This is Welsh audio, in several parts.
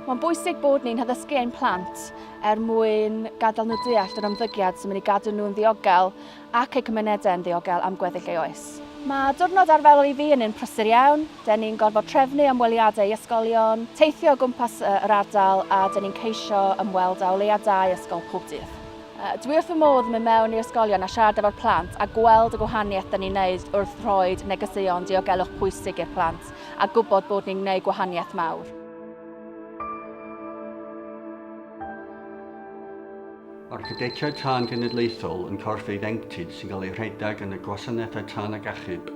Mae'n bwysig bod ni'n haddysgu ein plant er mwyn gadael nhw deall yr ymddygiad sy'n mynd i gadw nhw'n ddiogel ac ei cymunedau'n ddiogel am gweddill ei oes. Mae diwrnod arferol i fi yn un prysur iawn, dŷn ni'n gorfod trefnu ymweliadau i ysgolion, teithio o gwmpas yr ardal a dŷn ni'n ceisio ymweld â o leiaf dau ysgol pob dydd. Dwi wrth fy modd yn mynd mewn i ysgolion a siarad efo'r plant a gweld y gwahaniaeth dŷn ni'n neud wrth rhoid negeseuon diogelwch pwysig i'r plant a gwybod bod ni'n gneud gwahaniaeth mawr. Mae'r Cadetiaid Tân Genedlaethol yn corff eiddengtid sy'n cael ei rhedeg yn y Gwasanaethau Tân ac Achub.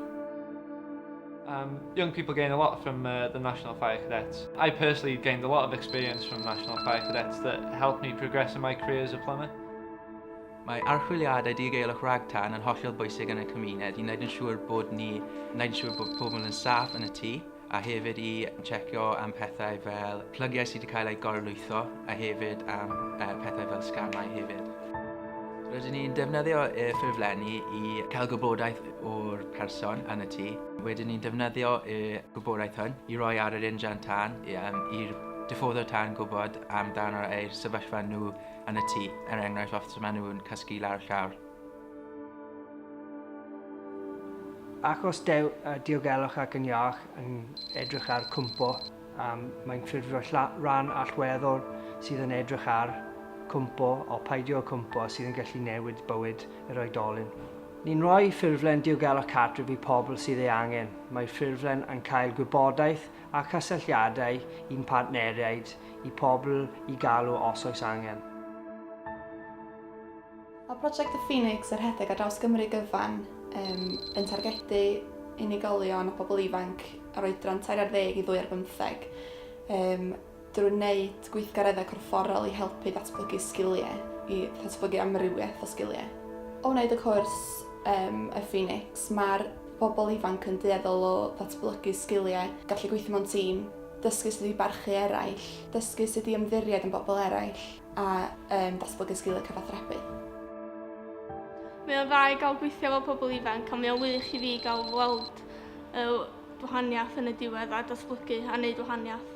Um, young people gain a lot from uh, the National Fire Cadets. I personally gained a lot of experience from National Fire Cadets that helped me progress in my career as a plumber. Mae archwiliadau digaelwch ragtan yn hollol bwysig yn y cymuned i wneud yn siŵr bod ni, wneud yn siŵr bod pobl yn saff yn y tŷ. a hefyd i checio am pethau fel plygiau sydd wedi cael eu gorlwytho a hefyd am pethau fel sgamau hefyd. Rydyn ni'n defnyddio y ffurflenni i cael gwybodaeth o'r person yn y tŷ. Wedyn ni'n defnyddio y gwybodaeth hwn i roi ar yr injan tân i'r diffoddwr tân gwybod amdano eu sefyllfa nhw yn y tŷ, er enghraifft os maen nhw'n cysgu lawr llawr. Ac os dew, uh, diogelwch ac yn iach yn edrych ar cwmpo, um, mae'n ffurfio rhan allweddol sydd yn edrych ar cwmpo o paidio cwmpo sydd yn gallu newid bywyd yr oedolyn. Ni'n rhoi ffurflen diogelwch cartref i pobl sydd ei angen. Mae'r ffurflen yn cael gwybodaeth a chysylltiadau i'n partneriaid i pobl i galw os oes angen. Mae Project The Phoenix a rhedeg ar draws Gymru gyfan um, yn targedu unigolion a pobl ifanc ar oedran tair ar ddeg i ddwy ar bymtheg um, drwy wneud gweithgareddau corfforol i helpu datblygu sgiliau, i ddatblygu amrywiaeth o sgiliau. O wneud y cwrs um, y Phoenix, mae'r bobl ifanc yn dueddol o ddatblygu sgiliau, gallu gweithio mewn tîm, dysgu sut i barchu eraill, dysgu sut i ymddiried yn bobl eraill, a um, datblygu sgiliau cyfathrebu. Mae o'n dda i gael gweithio efo pobl ifanc a mae o'n wych i fi gael weld y wahaniaeth yn y diwedd a datblygu a wneud wahaniaeth.